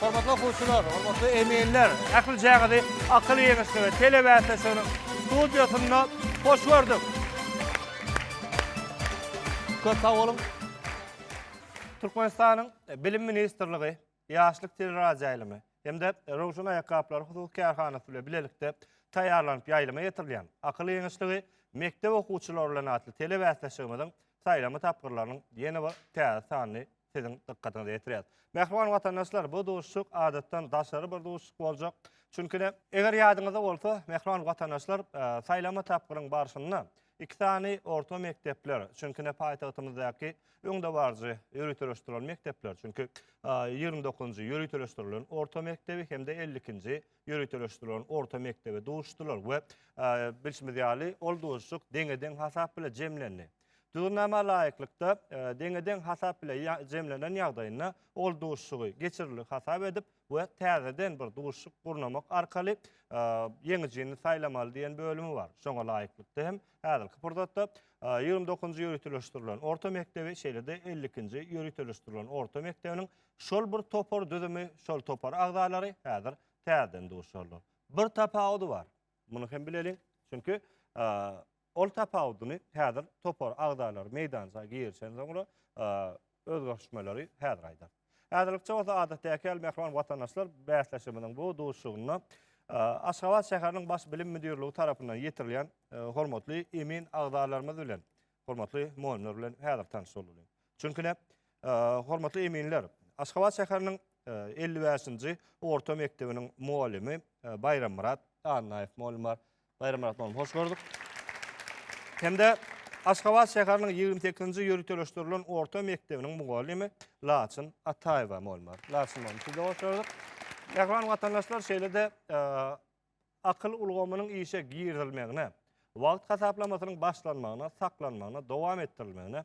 Hormatly okuwçylar, hormatly eminler, ählijaňyzy Akyl ýeňişligi telebäsleşiginiň studiýasynda hoş gördük. Köp sag boluň. Türkmenistanyň Bilim ministrligi, Ýaşlyk teleradioýaýlymy hem-de Röwşen aýakgaplary hususy kärhanasy bilen bilelikde taýýarlanyp ýaýlyma getirilýän Akyl ýeňişligi mekdep okuwçylary bilen atly telebäsleşigimiziň saýlama tapgyrlarynyň ýene bir täze sanyny siziň dykgatyňyza ýetirýäs. Mähriban watandaşlar, bu duşuşyk adatdan daşary bir duşuşyk boljak. Çünki-de, eger ýadyňyzda bolsa, mähriban watandaşlar, saýlama tapgyryň barşynda iki sany orta mekdepler, çünki-de, paýtagtymyzdaky öňdebaryjy ýöriteleşdirilen mekdepler, çünki ýigrimi dokuzynjy ýöriteleşdirilen orta mekdebi hem-de elli ikinji ýöriteleşdirilen orta mekdebi duşdular we bilşimiz ýaly, ol duşuşyk deňe-deň hasap bilen jemlendi. Düzgünnama laýyklykda deňe-deň hasap bile jemlenen ýagdaýynda ol duşuşygy geçirildi hasap edip we täzeden bir duşuşyk gurnamak arkaly ýeňijini saýlamaly diýen bölümi bar. Şoňa laýyklykda hem häzirki pursatda 29-njy ýöriteleşdirilen orta mekdebi, şeýle-de 52-nji ýöriteleşdirilen orta mekdebiniň şol bir topar düzümi, şol topar agzalary häzir täzeden duşuşarlar. Bir tapawudy bar. Muny hem bileliň. Çünki Ol tapawudyny häzir topar agzalary meýdança girişen soňra özgerişmeleri häzir aýdar. Häzirlikçe bolsa adatdäki ýaly mähriban watandaşlar bäsleşigimiziň bu duşuşygynda Aşgabat şäheriniň Baş bilim müdirligi tarapyndan ýetirilýän hormatly emin agzalarymyz bilen, hormatly mugallymlar bilen häzir tanyş boldular. Çünki näme? Hormatly eminler, Aşgabat şäheriniň 55-nji orta mekdebiniň mugallymy Baýrammyrat Annaýew mugallym bar. Baýramyrat mugallym, hoş gördük. Hem-de Aşgabat şäheriniň ýigrimi sekizinji ýöriteleşdirilen orta mekdebiniň mugallymy Laçyn Ataýewa mugallym bar. Laçyn mugallym, sizi hoş gördük. Mähriban watandaşlar, şeýle-de e, akyl ulgamynyň işe girizilmegine, wagt hasaplamasynyň başlanmagyna, saklanmagyna, dowam etdirilmegine,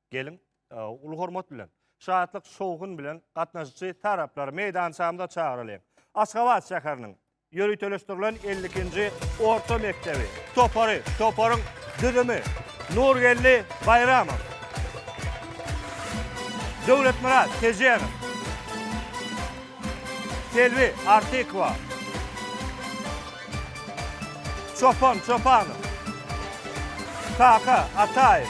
Geliň, uly hormat bilen, şatlyk, şowhun bilen gatnaşyjy taraplary meýdançamyza çagyralyň. Aşgabat şäheriniň ýöriteleşdirilen elli ikinji orta mekdebi topary, toparyň düzümi, Nurgeldi Baýramow, Döwletmyrat Tejenow, Selbi Artykowa, Çopan Çopanow, Kaka Ataýew,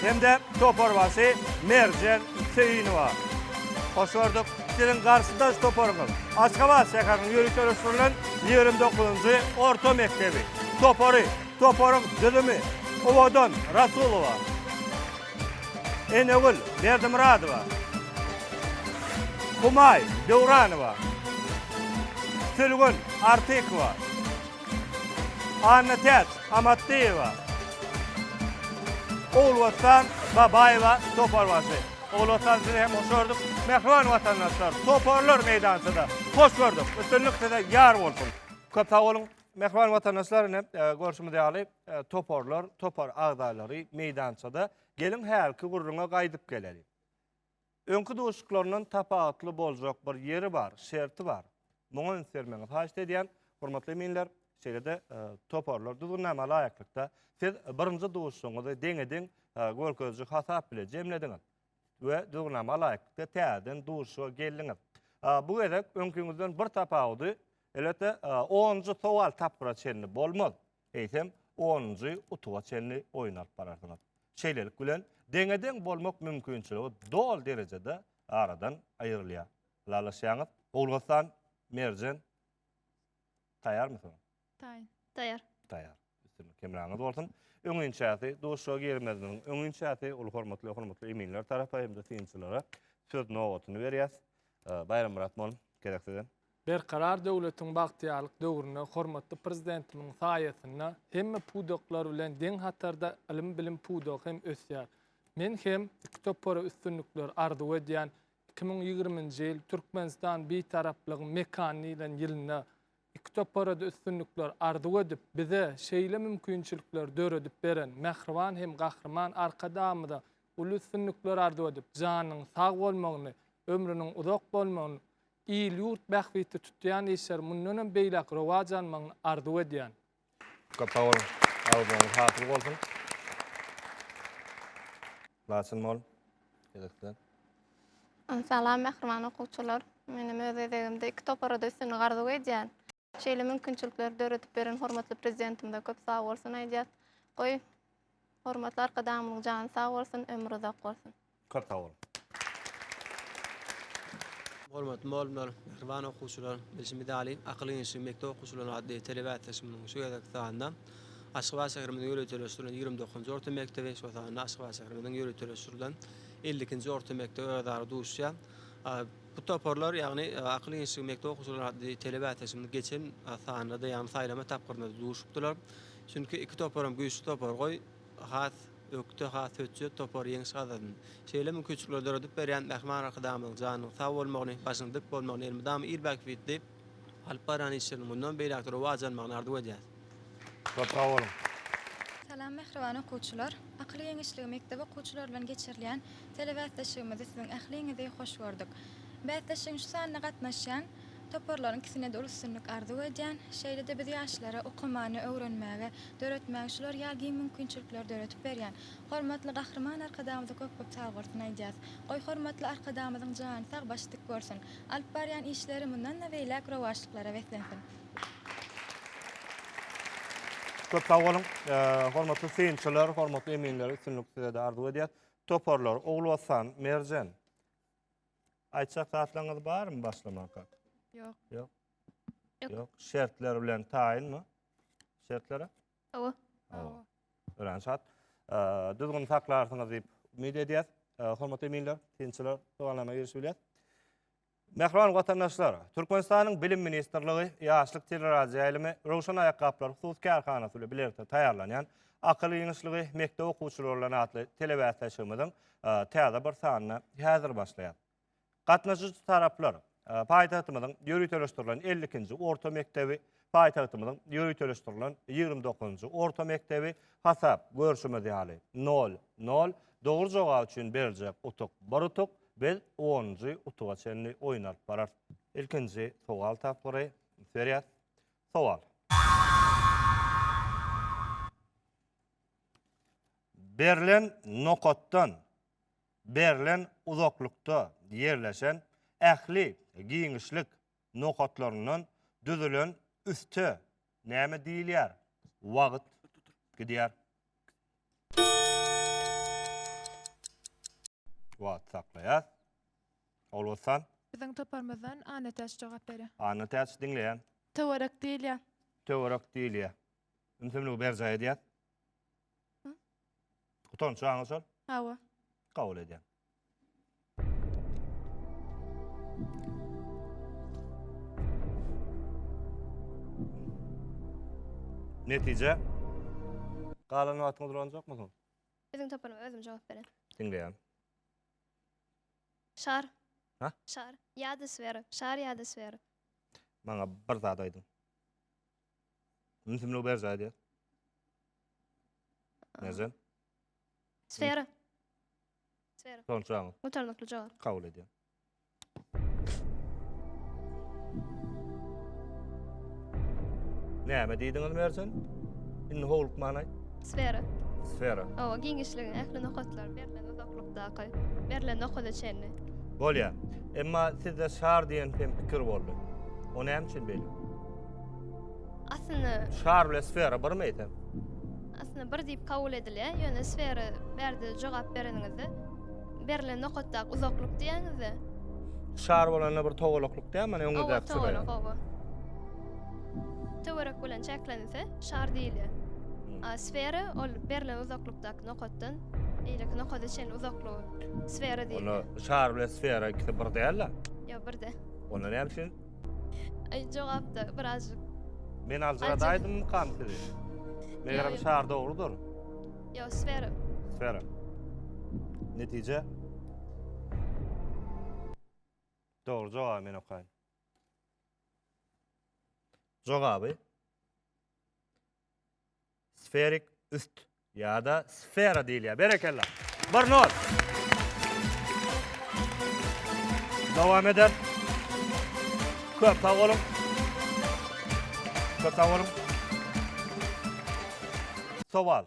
Hem-de toparbaşy Merjen Söýünowa. Hoş gördük. Siziň garşydaş toparyňyz Aşgabat şäheriniň ýörite ösdürilen ýigrimi dokuzynjy orta mekdebi topary. Toparyň düzümi Owadan Rasulowa, Enegül Berdimyradowa, Humaý Döwranowa, Sülgün Artykowa, Annatäç Amatdyýewa, Ogulwatan Babaýewa toparbaşy. Ogulwatan sizi hem hoş gördük. Mähriban watandaşlar, toparlar meýdançada. Hoş gördük. Üstünlik size ýar bolsun. Köp sag boluň. Mähriban watandaşlar, ine, görşümiz ýaly, toparlar, topar agzalary meýdançada. Geliň, hälki gürrüňe gaýdyp geleliň. Öňki duşuşyklaryndan tapawutly boljak bir ýeri bar, şerti bar. Muňa üns bermegiňizi haýyşt edýän, hormatly eminler, şeýle-de toparlar düzgünnama laýyklykda siz birinji duşuşygyňyzy deňe-deň görkeziji hasap bile jemlediňiz we düzgünnama laýyklykda täzeden duşuşyga geldiňiz. Bu gezek öňkiňizden bir tapawudy, elbetde, onunjy sowal tapgyra çenli bolmaz. eýsem, onunjy utuga çenli oýun alyp bararsyňyz. Şeýlelik bilen, deňe-deň bolmak mümkinçiligi doly derejede aradan aýrylýar. Ylalaşýaňyz? Owganystan, Merjen, taýýarmysyňyz? Taýýar. Taýýar. Taýýar. Üstünlik hemraňyz bolsun. Öňinçäsi, duşuşyga girmezimiziň öňinçäsi, uly hormatly we hormatly eminler tarapa hem-de synçylara söz nobatyny berýäs. Baýrammyrat mol, gezek size. Berkarar döwletiň bagtyýarlyk döwründe hormatly Prezidentimiň saýasynda hemme pudaklar bilen deň hatarda ylym-bilim pudagy hem ösýär. Men hem iki topara üstünlikler arzuw edýän, iki müň ýigriminji ýyl Türkmenistan Bitaraplygyň mekany diýlen ýylynda iki topara-da üstünlikler arzuw edip, bize şeýle mümkinçilikleri döredip beren mähriban hem gahryman Arkadagymyza uly üstünlikler arzuw edip, janynyň sag bolmagyny, ömrüniň uzak bolmagyny Il-ýurt bähbitli tutýan işleri mundanam beýläk rowaç almagyny arzuw edýän. Köp sag boluň. Arzuwyňyz hasyl bolsun. Laçyn mol. Gezekden. Salam mähriban okuwçylar. Menem öz gezegimde iki topara-da üstünlik arzuw edýän. Şeýle mümkinçilikleri döredip beren hormatly Prezidentimize köp sag bolsun aýdýas. Goý, hormatly Arkadagymyzyň jany sag bolsun, ömri uzak bolsun! Köp sag boluň! Hormatly mugallymlar, mähriban okuwçylar! Bilşimiz ýaly, Akyl giňişligi mekdep okuwçylary atly telebäsleşigimiziň şu gezekki sanynda Aşgabat şäherimiziň ýöriteleşdirilen ýigrimi dokuzynjy orta mekdebi, şol sanda Aşgabat şäherimiziň ýöriteleşdirilen elli ikinji orta mekdebi özara duşýar. Bu toparlar, ýagny Akyl institýutynyň mekdep okuwçylary atly tele bäsleşigimiz geçen sanda-da, ýagny saýlama tapgyrynda-da duşupdylar. Çünki iki toparam güýçli topar, goý, has ökde, has hötjet topar ýeňiş gazasyn. Şeýle mümkinçilikleri döredip berýän mähriban Arkadagymyzyň janynyň sag bolmagyny, başynyň dik bolmagyny elmydama il bähbitli, Alyp barýan işleriň mundan beýläk-de rowaç almagyny arzuw edýäs. Köp sag boluň! Salam mähriban okuwçylar! Akyl geňeşligi mekdep okuwçylary bilen geçirilýän telebäsleşigimizde siziň ähliňizi hoş gördük. Bäsleşigiň şu sanyna gatnaşýan toparlaryň ikisine-de uly üstünlik arzuw edýän. Şeýle-de biz ýaşlara okamany öwrenmäge, döretmäge şular ýaly giň mümkinçilikleri döredip berýän hormatly Gahryman Arkadagymyza köp-köp sagbolsun aýdýas. Goý, hormatly Arkadagymyzyň jany sag, başy dik bolsun! Alyp barýan işleri mundan-da beýläk rowaçlyklara beslensin. Köp sag boluň. Hormatly synçylar, hormatly eminler, üstünlik size-de arzuw edýäs. Toparlar, Ogulwatan, Merjen. Aýtjak zatlaryňyz barmy başlamanka? Ýok. Ýok. Ýok. Şertler bilen taýynmy? Şertlere? Hawa. Hawa. Örän şat. Düzgün saklarsyňyz diýip umyt edýäs. Hormatly eminler, synçylar, sowallaryna girişip bilýär. Mähriban watandaşlar, Türkmenistanyň Bilim ministrligi Ýaşlyk teleradioýaýlymy Röwşen aýakgaplar hususy kärhanasy bilen bilelikde taýýarlanýan Akyl giňişligi mekdep okuwçylary bilen atly telebäsleşigimiziň täze bir sanyny häzir başlaýar. Gatnaşyjy taraplar paýtagtymyzyň ýöriteleşdirilen 52-nji orta mekdebi, paýtagtymyzyň ýöriteleşdirilen 29-njy orta mekdebi, hasap görşümiz ýaly, nol, nol, dogry jogap üçin beriljek utuk bir utuk, biz onunjy utuga çenli oýun alyp bararys. Ilkinji sowal tapgyry, üns berýäs. Sowal. Berlen nokatdan berlen uzaklykda ýerleşen ähli giňişlik nokatlaryndan düzülen üste näme diýilýär? Wagt gidýär. Wagty saklaýas. Ogulbossan. Biziň toparymyzdan Annatäç jogap berýär. Annatäç, diňleýän. Töwerek diýilýär. Töwerek diýilýär. Ümsümligi berjaý edýäs. Utanç aňa şol? Hawa. Kabul edýän. Netije? Galan wagtyňyz ulanjak musun? Özüm tapanym, özüm jogap beren. Diňleýän. Şar. Ha? Şar. Ýa-da sfera. Şar ýa-da sfera. Maňa bir zat aýdyň. Ünsimligi berjaý edýär. Näzem? Sfera. Sfera. Son suragyň. Gutarnykly jogap. Kabul edýär. Näme diýdiňiz Merjen? Indi howlukman aýt. Sfera. Sfera. Owa, giňişligiň ähli nokatlary berlen uzaklykdaky, berlen nokada çenli. Bolýar. Emma sizde şar diýen hem pikir boldy. O näme üçin beýle? Aslynda Şar bilen sfera birmi eýsem? aslynda bir diýip kabul edilýär. Ýöne sfera bärde jogap bereniňizde berlen nokatdaky uzaklyk diýýäňizde. Şar bolanda bir togalaklyk diýýär, mana Owa, öňüňizdäki çyraýa. togalak, owa. Töwerek bilen çäklense şar diýilýär. A sfera ol berlen uzaklykdaky nokatdan eýleki nokada çenli uzaklygy sfera Onda diýilýär. şar bilen sfera ikisi bir däl-de. Ýa birde. Onda näme üçin Ay cevap da birazcık. Men aljyradaýdymykam sizi? Megerem Ýa, ýa. şar dogrudyr. Yo sfera. Sfera. Netije? Dogry jogaby men okaýyn. Jogaby. Sferik üst ýa-da sfera diýilýär. Berekella. Bir not. Dowam eder. Köp sag boluň. Köp sag boluň. Sowal.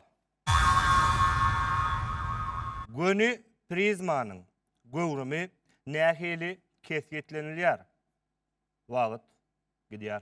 Göni prizmanyň göwrümi nähili kesgitlenilýär? Wagt gidýär.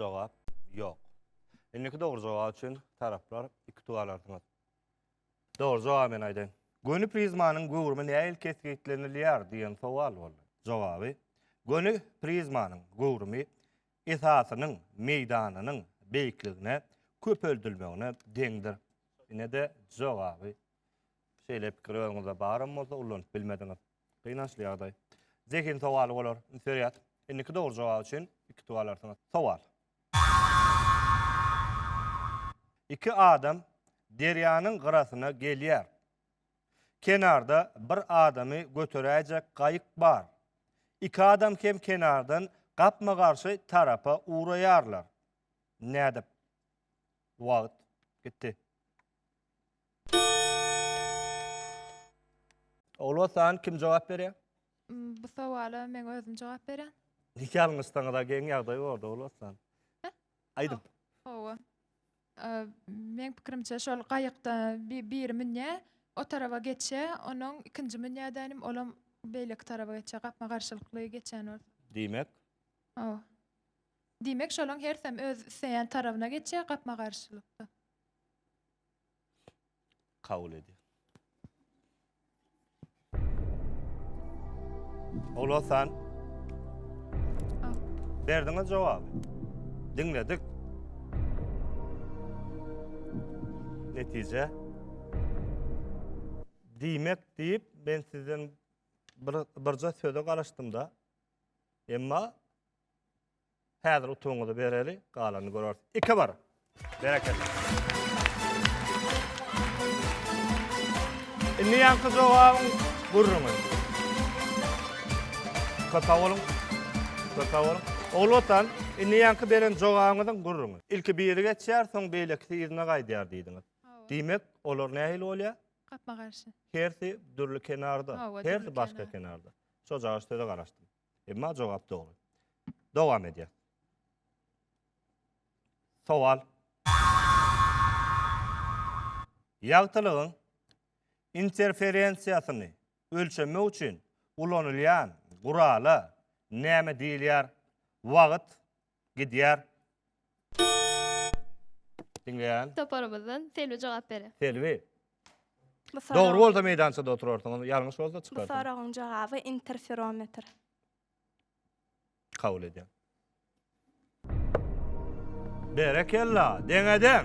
Jogap, ýok. Indiki dogry jogap üçin taraplar iki utuk alarsyňyz. Dogry jogaby men aýdaýyn. Göni prizmanyň göwrümi nähili kesgitlenilýär diýen sowal boldy. Jogaby, göni prizmanyň göwrümi esasynyň meýdanynyň beýikligine köpeldilmegine deňdir. Ine-de jogaby. Şeýle pikir özüňizde baram bolsa ullanyp bilmediňiz. Gynançly ýagdaý. Zehin sowaly bolar. Serýat. Indiki dogry jogap üçin iki utuk alarsyňyz. Sowal. Iki adam derýanyň gyrasyna gelýär. Kenarda bir adamy göteräýjek gaýyk bar. Iki adam hem kenardan gapma-garşy tarapa ugraýarlar. Nädip? Wagt gitdi. Ogulhassan, kim jogap berýär? Bu sowala men özüm jogap berýän. Ýalňyşsaňyz-a geň ýagdaý bordy, Ogulhassan. Aýdyň. Hawa. Meň pikirimçe şol gaýykda biri münýä o tarawa geçýä onuň ikinji münýädänim olam beýleki tarawa geçýä gapma garşylykly geçýän bolsa. Diýmek? Hawa. Diýmek şolaň hersem öz isleýän tarawyna geçýä gapma garşylykda. kabul edýär. Ogulhasan. Berdiňiz jogaby. Diňledik. Netije. Diýmek diýip ben sizden bir birje söze garaşdym da. Emma Häzir utugyňyzy bereli, galanyny göreris. Iki bir. Berekella. Indi ýaňky jogabyň gürrüňi. Köpe boluň. Köpe boluň. Ogul watan, indi ýaňky beren jogabyňyzyň gürrüňi. Ilki biri geçýär, soň beýlekisi yzyna gaýdýar diýdiňiz. Hawa. Diýmek, olar nähili bolýar? Gapma-garşy. Hersi dürli kenarda. Hawa, dürli Hersi başga kenar. kenarda. Şojagaz söze garaşdym. Emma jogap dogry. Dowam edýär. Sowal. Ýagtylygyň interferensiýasyny ölçemek üçin ulanylýan gurala näme diýilýär? Wagt. Gidýär. Diňleýän. Toparymyzdan Selbi jogap berer. Selbi. Bu soragyň- Dogry bolsa meýdançada oturarsyň, onda ýalňyş bolsa Bu çykarsyň. soragyň jogaby interferometr. Kabul edýän. Berekella, deňe-deň!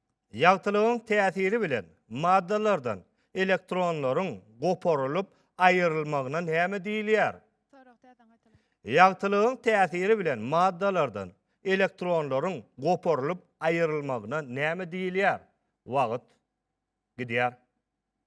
Ýagtylygyň täsiri bilen maddalardan elektronlaryň goparylyp aýrylmagyna näme diýilýär? Ýagtylygyň täsiri bilen maddalardan elektronlaryň goparylyp aýrylmagyna näme diýilýär? Wagt gidýär.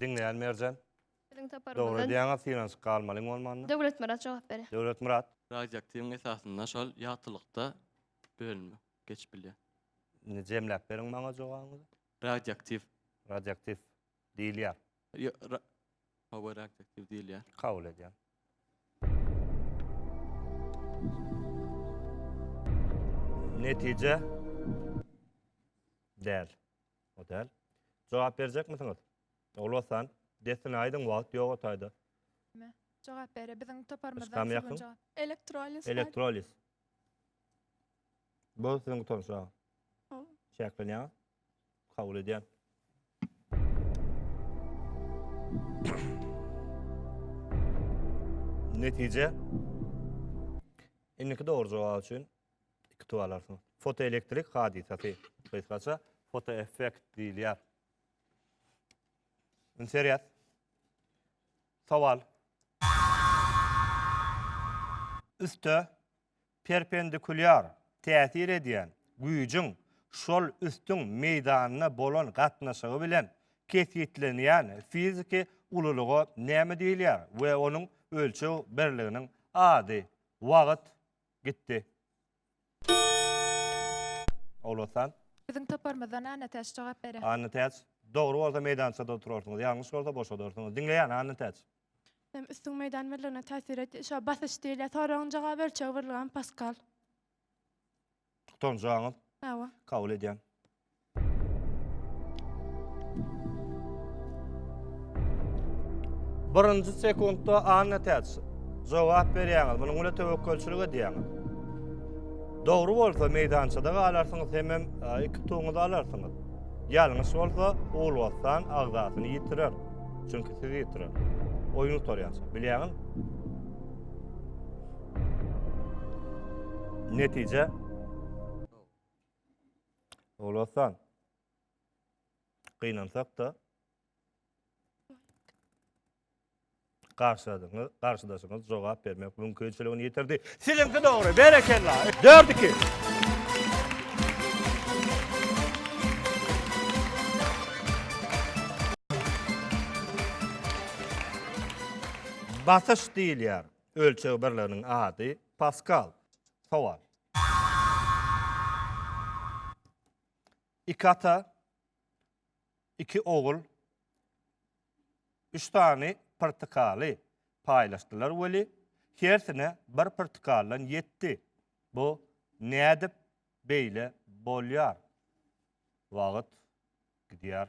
Diňleýän Merjen. Dogry diýýäňiz, synanyşyk galmalyň bolmanda. Döwletmyrat jogap berýär. Döwletmyrat. Radioaktiwiň esasynda şol ýagtylykda bölünme geçip bilýär. Indi jemläp beriň maňa jogabyňyzy. Radioaktiv. Radioaktiv diýilýär. Ýo- ra- Power adjektiw diýilýär. Kabul edýän. Netije däl. O däl. Jogap berjekmisiňiz? Ogul Hasan, dessine aýdyň, wagt ýok otaýda. Jogap bere biziň Islam toparymyzdan ýakyn. Sögün jogap. Elektroliz. Elektroliz. Bu siziň gutanç, ha. Ol. Çäklenýär. Kabul edýän. Netije. Indiki dogry jogap üçin iki tuwa alarsyň. Fotoelektrik hadysasy. Gysgaça fotoeffekt diýilýär. Inserýat. Sowal. Üste Perpendikulýar täsir edýän güýjüň şol üstüň meýdanyna bolan gatnaşygy bilen kesgitlenýän fiziki ululyga näme diýilýär we onuň ölçeg birliginiň ady? Wagt gitdi. Ogulhassan. Biziň toparymyzdan Annatäç jogap berer. Annatäç. Dogry bolsa meýdançada oturarsyňyz, ýalňyş bolsa boşadarsyňyz. Diňleýän, Annatäç. Hem üstün meýdan birligine täsir et. Şo basyş diýilýär. Soragyň jawaby ölçeg birligi hem paskal. Utanjaňyz. Hawa. Kabul edýän. Birinji sekuntda Anna Täç jogap berýäňiz. Munuň bilen töwekgelçilik edýäňiz. Dogry bolsa meýdançada galarsyňyz hem hem e, iki tuňuzy alarsyňyz. Ýalňyş bolsa Uwulwatan agzasyny ýitirer. Çünki siz ýetiren. Oýun gutarýança. Bilýäňiz? Netije. Olasan. Gynansak da. Garşydaşyňyz, garşydaşyňyz jogap bermek mümkinçiligini ýitirdi. Siziňki dogry. Berekella. Dört iki. Basyş diýilýär. Ölçeg birliginiň ady paskal. Sowal. Iki ata Iki ogul üç sany pyrtykaly paýlaşdylar weli, hersine bir pyrtykaldan ýetdi. Bu nädip beýle bolýar? Wagt gidýär.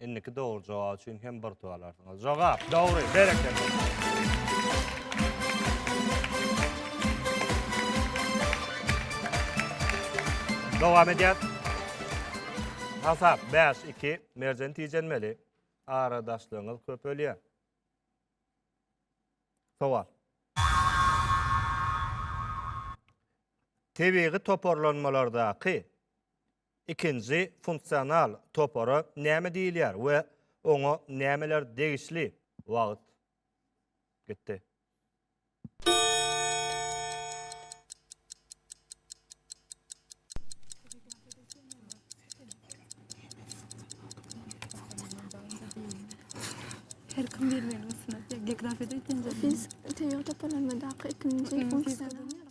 Indiki dogry jogap üçin hem bir utuk alarsyňyz. Jogap dogry, berekella. Dowam edýär. Hasap 5-2. Merjen tijenmeli. Aradaşlygyňyz köpelýär. Sowal. Tebigy toparlanmalardaky Ikinji funksional topara näme diýilýär we oňa nämeler degişli? Wagt. Gitdi. Her kim bilmeli bolsun. Geografiýada ilkinji. Biz tebigy toparlanmadaky ikinji funksiýa.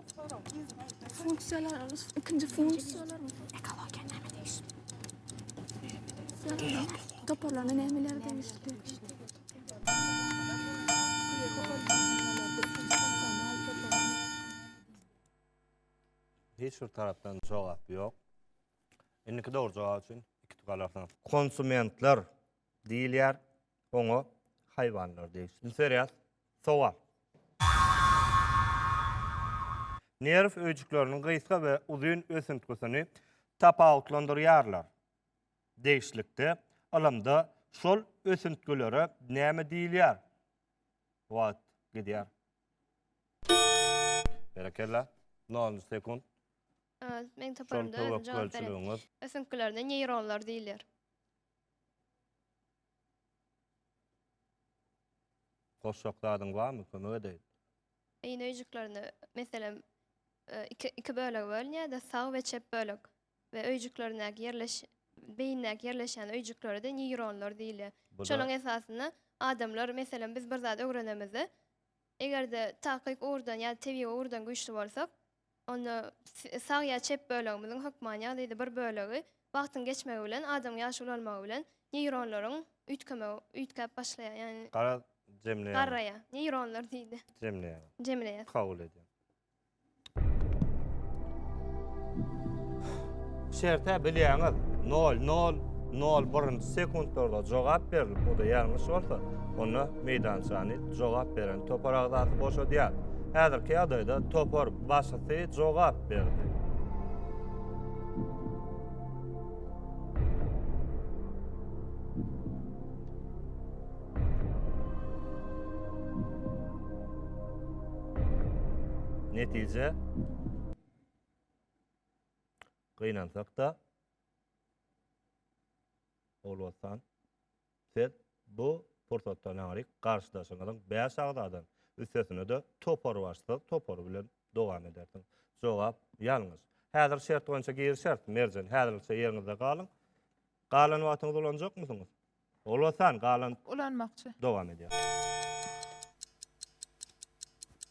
Funksiýalar alys. Ikinji funksiýalar. Ekologiýa näme degişli? Toparlanan nämeler degişli? Hiç bir tarapdan jogap ýok. Indiki dogry jogap üçin iki tük alarsyňyz. Konsumentler diýilýär. oňa haýwanlar degişli. Indi serýas. Sowal. Nerw öýjükleriniň gysga we uzyn ösüntgisini tapawutlandyrýarlar. Degişlikde ylymda şol ösüntgilere näme diýilýär? Wagt gidýär. Berekella. Nol sekunt. Meň toparymda özüm jogap bereyim. Ösüntgilerine neýronlar diýilýär. Goşjak zadyň barmy, kömek edeýin. Beýin öýjüklerini, meselem, iki iki bölege bölünýärdi, sag we çep bölek we öýjüklerindäki ýerleş beýindäki ýerleşýän öýjüklere-de neýronlar diýilýär. Bu-da- Şonuň esasynda adamlar, meselem, biz bir zat öwrenemizde, eger-de takyk ugurdan ýa-da tebigy ugurdan güýçli bolsak, Onda sag ýa çep bölegimiziň hökmany ýagdaýda bir bölegi wagtyň geçmegi bilen, adamyň ýaş ulalmagy bilen neýronlaryň üýtgemegi, üýtgäp başlaýar. Ýagny Garaz, jemleýäňiz. Garraýar. Neýronlar diýdi. Jemleýäňiz. Jemleýär. Kabul edýän. Şertä bilýäňiz. Nol, nol, nol birinji sekuntlarda jogap berilip, o-da ýalňyş bolsa, onda meýdançany Jogap beren topar agzasy boşadýar. Häzirki ýagdaýda topar başysy jogap berdi. Netije gynansak-da, Ogulwatan Siz bu pursatdan aňry garşydaşyňyzyň bäş agzadan üstesine-de toparbaşsyz topary bilen dowam edersiňiz. Jogap ýalňyş. Häzir şert boýunça girişeris. Merjen, häzirlikçe ýeriňizde galyň. Galan wagtyňyzy ulanjakmysyňyz? Ulasan, galan... Ulanmakçy. Dowam edýäris.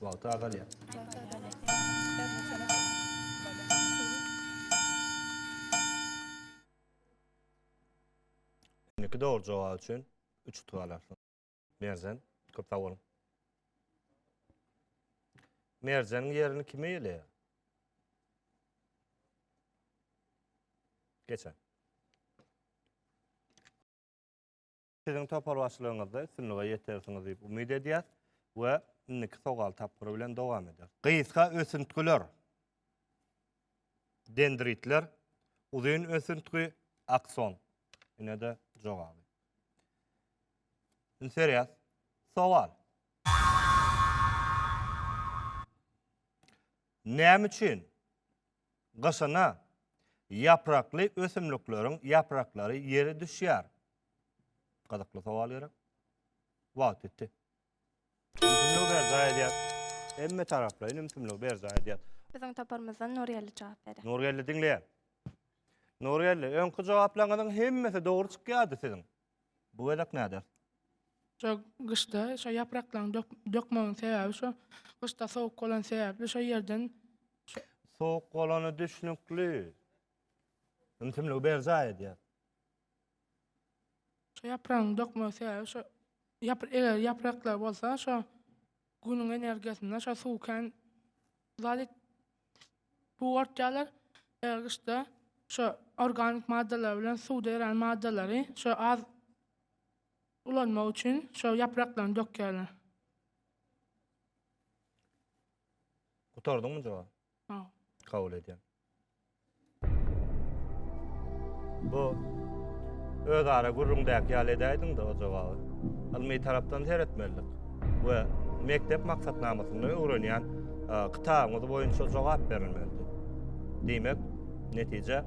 Wagty azalýar. Indiki dogry jogap üçin 3 utuk alarsyň. Merjen, köp sag boluň. Merjeniň ýerini kim eýeleýär? Geçen. Siziň topar başlygyňyzda üstünlige ýetersiňiz diýip umyt edýäs we indiki sowal tapgyry bilen dowam ederis. Gysga ösüntgiler, dendritler, uzyn ösüntgi, akson. Ine-de jogaby. Indi serýas. Sowal. Näme üçin Gyşyna, ýaprakly ösümlikleriň ýapraklary ýere düşýär. Gyzykly sowal gerek. Wagt ýetdi. Ümsümligi berjaý edýär. Hemme taraplaýyn ümsümligi berjaý edýär. Biziň toparymyzdan Nurgeldi jogap berýär. Nurgeldi diňleýän. Nurgeldi, öňki jogaplaryňyzyň hemmesi dogry çykýardy siziň. Bu gezek näder? Şo gyşda şo ýapraklaň dökmegiň sebäbi şo gyşda sowuk bolan sebäpli şo ýerden Sowuk bolany düşnükli. Ümsümligi berjaý edýär. şo ýapragyň dökmegi sebäbi şo ýap- eger ýapraklar bolsa şo Günüň energiýasyndan şo suw kän zat et bugartýarlar. Eger gyşda şo organik maddalar bilen suwda erän maddalary şo az ulanmak üçin şo ýapraklaryny dökýärler. Gutardyňmy jogap? Sag ol. Kabul edýän. Bu öz ara gürrüňdäki ýaly edäýdiň-de o jogaby. Ylmy tarapdan seretmelidik we mekdep maksatnamasynda öwrenýän e, kitabyňyz boýunça jogap berilmelidi. Diýmek, netije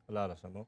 ylalaşamok.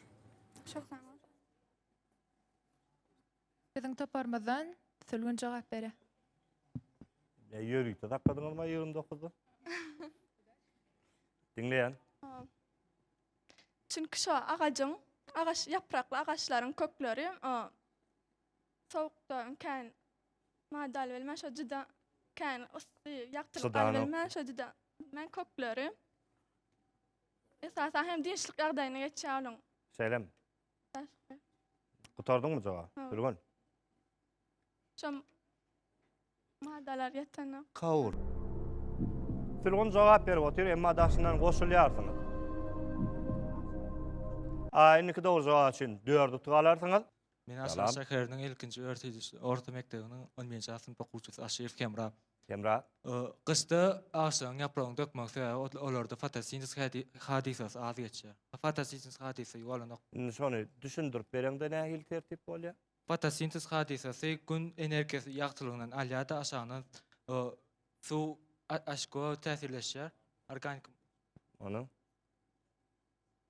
Çok sağ ol. Biziň toparymyzdan Sülgün jogap bere. Ya yörüte sakladınız mı 29'da? Dinleyen. Çünki şu agajyň, agaç yaprakly agaçlaryň kökleri o sowukda kän madal bilmän şu juda kän ysy ýakdyryp Çydanyk. bilmän şu juda bilmän kökleri Esasan hem dynçlyk ýagdaýyny geçýär onuň. Şeýlemi? Başga. Gutardyňmy jogap? Ha. Gülgün. Şom madalar ýetene. Kaur. Sülgün jogap berip otyr, emma daşyndan goşulýarsyňyz. A, indiki dogry jogap üçin dört utuk alarsyňyz. Men Aşgabat şäheriniň ilkinji örtüjisi, orta mekdebiniň on birinji A synp okuwçysy Aşyrow Hemra. Hemra. Gyşda agşyň ýapragyny dökmegiň sebäbi olarda fotosintez hadysasy az geçýär. Fotosintez hadysasy bolanok. Indi şony düşündirip bereňde nähili tertip bolýar? Fotosintez hadysasy gün energiýasy ýagtylygyndan alýar-da aşagyndan suw aşko täsirleşýär. Organik. Onuň.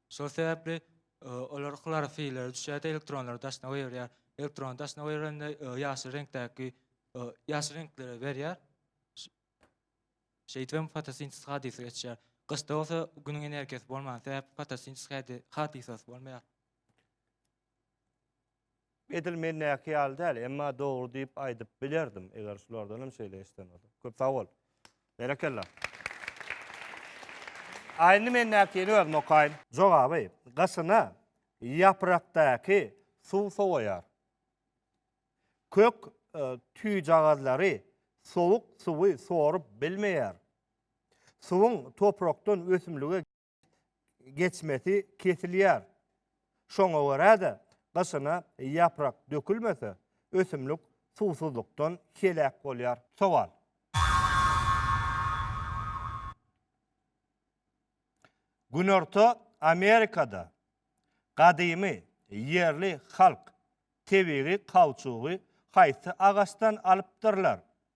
Şol sebäpli olar hlorofilleri düşýär-de, elektronlary daşyna goýberýär. Elektrony daşyna goýberende ýaşyl reňkdäki ýaşyl reňkleri berýär. Şeýdip hem fotosintez hadysy geçýär. Gyşda bolsa günüň energiýasy bolman sebäpli fotosintez hadysasy bolmaýar. Edil mendäki ýaly däl, emma dogry diýip aýdyp bilerdim, eger şulardan hem şeýle eşden bolsa. Köp sag bol. Berekella. A indi mendäkini özüm okaýyn. Jogaby, gyşyna ýaprakdaky suw sowaýar. Kök e, tüýjagazlary sowuk suwy sorup bilmeýär. Suwuň toprakdan ösümlige geçmesi kesilýär. Şoňa görä-de, gyşyna ýaprak dökülmese, ösümlik suwsuzlykdan heläk bolýar. Sowal. Günorta Amerikada gadymy ýerli halk tebigy kauçugy haýsy agaçdan alypdyrlar?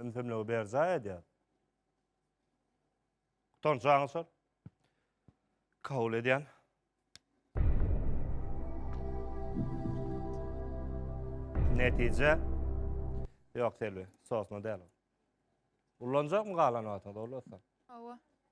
Ümsümligi berjaý edýär. Gutanç aňyrsar. Kabul edýän. Netije. Ýok, Selbi, sosna däl. Ullanjakmy galan wagtyňda, Ola? Hawa.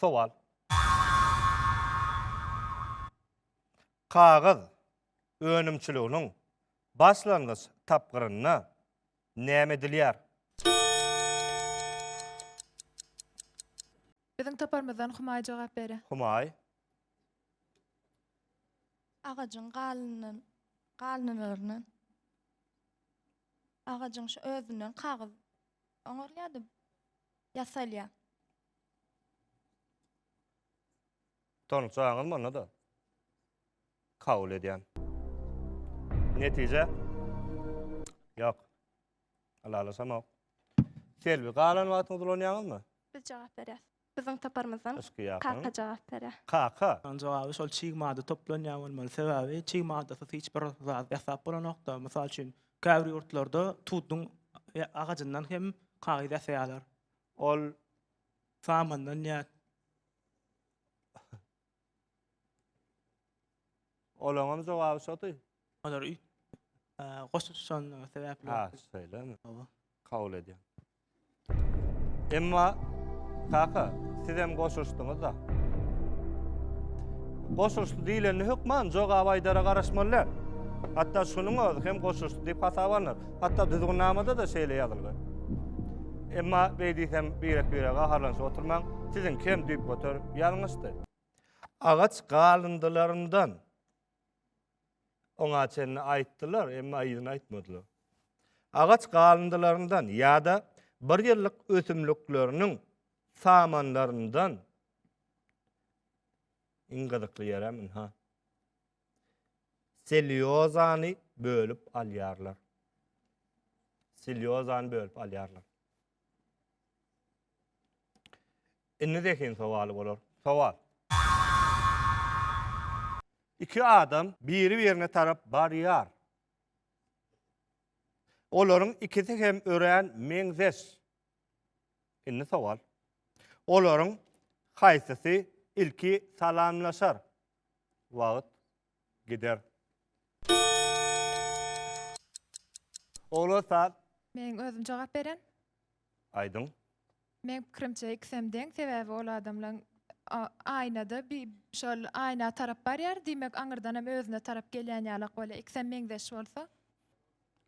Sowal. Kagyz önümçiliginiň başlangyç tapgyrynda näme edilýär? Biziň toparymyzdan Humaý jogap berer. Humaý. Agajyň galynyn galynylygyndan agajyň şu özünden kagyz oňarylýar-da, ýasalýar. Tanyşjaňyzmy onda-da? Kabul edýän. Netije? Ýok. Ylalaşamok. Selbi, galan wagtyňyzy ulanýaňyzmy? Biz jogap berýäs. Biziň toparymyzdan Kaka jogap berýär. Kaka? Onuň jogaby şol çig madda toplanýan bolmaly. Sebäbi çig maddasyz hiç bir zat ýasap bolanokda. Mysal üçin, käbir ýurtlarda tuduň agajyndan hem kagyz ýasaýarlar. Ol samandan ýat. Olaňam jogaby şoty. Olar üýt. Goşup tutanyň sebäpli. Ha, şeýlemi? Hawa. Kabul edýän. Emma kaka, siz hem goşuşdyňyz da. Goşuşdy diýilende hökman jogap aýdara garaşmaly däl. Hatda şunuň özi hem goşuşdy diýip hasap alnar. Hatda düzgünnamada-da şeýle ýazylgy. Emma beý diýsem birek-birege gaharlanyşyp oturmaň, siziňki hem düýp göter ýalňyşdy. Agaç galyndylaryndan oňa çenli aýtdylar, emma yzyny aýtmadylar. Agaç galyndylaryndan ýa-da bir ýyllyk ösümlikleriniň samanlaryndan iň gyzykly ýerem ynha. selýozany bölüp alýarlar. Selýozany bölüp alýarlar. Indi zehin sowaly bolar. Sowal. Iki adam biri-birine tarap barýar. Olaryň ikisi hem örän meňzeş. Indi sowal. Olaryň haýsysy ilki salamlaşar? Wagt gider. Ogla sat. Men özüm jogap beren. Aýdyň. Men pikirimçe ikisem deň, sebäbi ol adamlaň aýnada bi şol aýna tarap barýar, diýmek aňyrdanam özüne tarap gelýän ýalak bolýar. Ikisem meňzeş bolsa.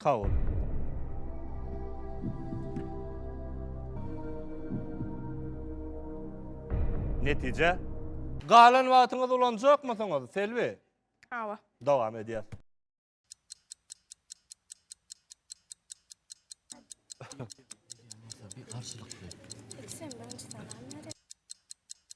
Sag bol. Netije. Galan wagtyňyz ulanjakmysyňyz, Selbi? Hawa. Dowam edýär. Garşylykly. Ikisem birinjiden alýar.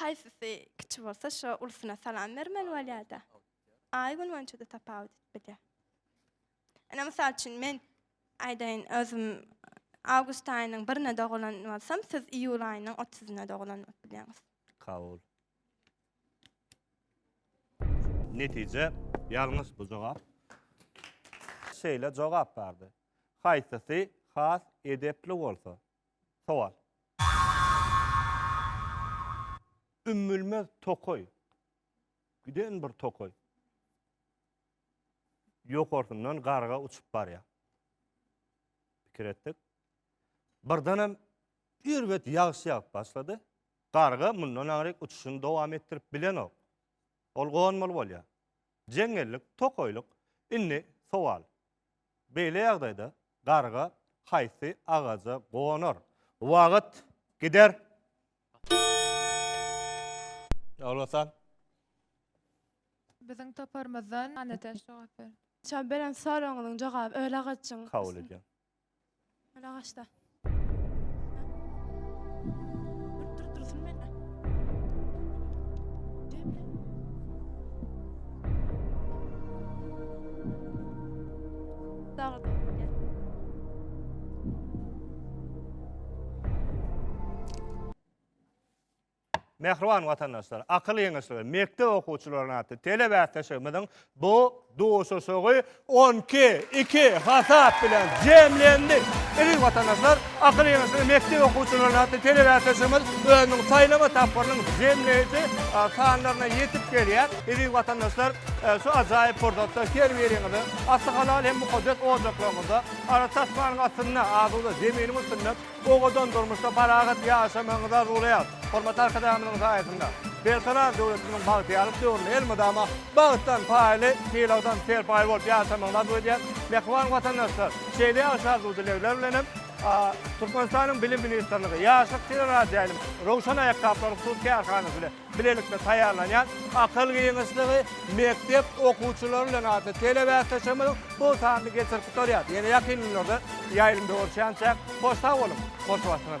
Haýsysy kiçi bolsa şo ulusyna salam bermeli bolýada. Aý gün boýunça-da tapawut edip bilýär. Ene mysal üçin men aýdaýyn özüm awgust aýynyň birine dogulan bolsam, siz iýul aýynyň otuzyna dogulan bolup bilýäňiz. Kabul. Netije ýalňyş bu jogap. Şeýle jogap bardy. Haýsysy has edepli bolsa, Sowal. Ümmülmez tokaý. Giden bir tokaý. Ýokarsyndan garga uçup barýar. Pikir etdik. Birdenem erbet ýagyş ýagyp başlady. Garga mundan aňryk uçuşyny dowam etdirip bilenok. Ol gonmaly bolýar. Jeňňellik, tokaýlyk. Indi sowal. Beýle ýagdaýda garga haýsy agaja gonar? Wagt gider. Ýolbasar. Biziň toparymyzdan Annatäç jogap berdi. Çal beren soragyňyzyň jogaby öl agajyň. Kabul edýän. Öl agaçda. Dur dur dursun menne. Demle. Dağda. Mähriban watandaşlar, akyl ýeňişleri, mekdep okuwçylarynyň atly telebäsleşigimiziň bu duşuşygy 12, 2 hasap bilen jemlendi. Eziz watandaşlar, akyl ýeňişleri, mekdep okuwçylarynyň atly telebäsleşigimiz özüniň saýlama tapgyrynyň jemleýji sanlaryna ýetip gelýär. Eziz watandaşlar, e, şu ajaýyp pursatda her biriňizi Asy halal hem mukaddes ojaklaryňyzda, ara tasmanyň astynda, asuda zeminiň üstünde Owadan durmuşda parahat ýaşamagyňyzy arzuwlaýarys. Hormatly Arkadagymyzyň saýasynda Berkarar döwletimiziň bagtyýarlyk döwründe elmydama bagtdan paýly, sylagdan serpaý bolup ýaşamagyňyzy arzuw edýäris. Mähriban watandaşlar, şeýle ýagşy arzuw-dilegler bilen hem Türkmenistanyň Bilim ministrligi, Ýaşlyk teleradioýaýlym, Röwşen aýakgaplaryň hususy kärhanasy, Bilelikde taýýarlanýan Akyl giňişligi mekdep okuwçylary bilen atly telebäsleşigimiziň bu sanyny geçirip gutarýar. Ýene ýakyn günlerde ýaýlymda görüşýänçäk, hoş sag boluň, hoş Watan!